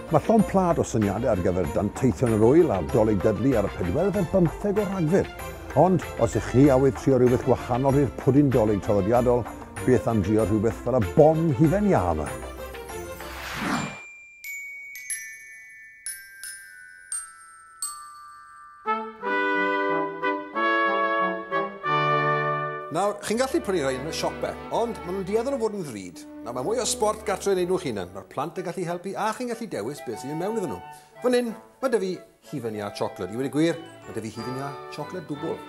Mae llond plâd o syniadau ar gyfer danteithion yr ŵyl ar Dolig Dudley ar y pedwerydd ar bymtheg o Rhagfyr. Ond, os ych chi awydd trio rhywbeth gwahanol i'r pwdin dolig traddodiadol, beth am drio rhywbeth fel y bon hufen iâ yma? Nawr, chi'n gallu prynu rhai yn y siope, ond maen nhw'n dueddol o fod yn ddrud. Nawr, mae mwy o sport gartre yn ei nhw'ch hunan. Mae'r plant yn gallu helpu a chi'n gallu dewis beth sy'n mynd mewn iddyn nhw. Fan hyn, mae dy fi hufen iâ chocolate. I wedi gwir, mae dy fi hufen iâ chocolate dwbl.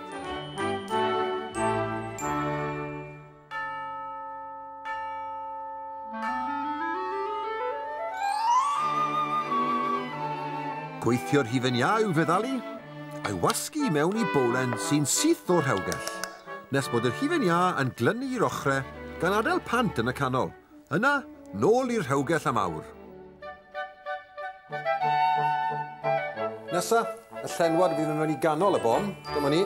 Gweithio'r hufen iau i'w feddalu, a'i wasgu mewn i bowlen sy'n syth o'r rhewgell, nes bod yr hufen iâ yn glynu i'r ochrau gan adael pant yn y canol. Yna, nôl i'r rhewgell am awr. Nesa, y llenwad fydd yn mynd i ganol y bom. Dyma ni.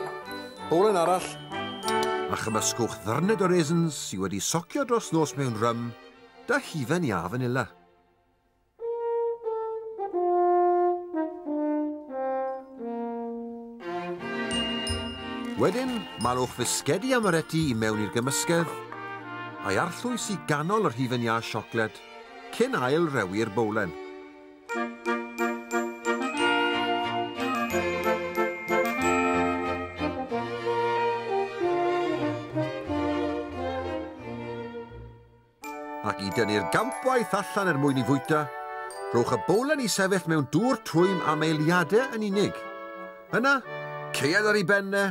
Bowlen arall. A chymysgwch ddyrned o raisins sydd wedi socio dros nos mewn rym, da hufen iâ fanila. Wedyn, malwch fisgedi amaretti i mewn i'r gymysgedd, a'i arllwys i ganol yr hufen iâ siocled, cyn ail rewi'r bowlen. Ac i dynnu'r gampwaith allan er mwyn i fwyta, rhowch y bowlen i sefyll mewn dŵr twym am eiliadau yn unig. Yna, ceued ar ei ben e,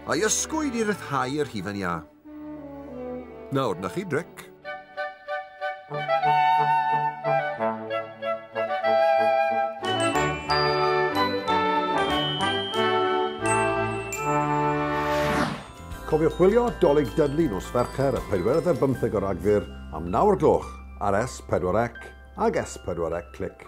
a'i ysgwyd i ryddhau yr hufen iâ. Nawr, na chi, Drec. Cofiwch wylio 'Dolig Dudley' nos Fercher y pedwerydd ar bymtheg o Ragfyr am naw o'r gloch ar S4C ag S4C Click.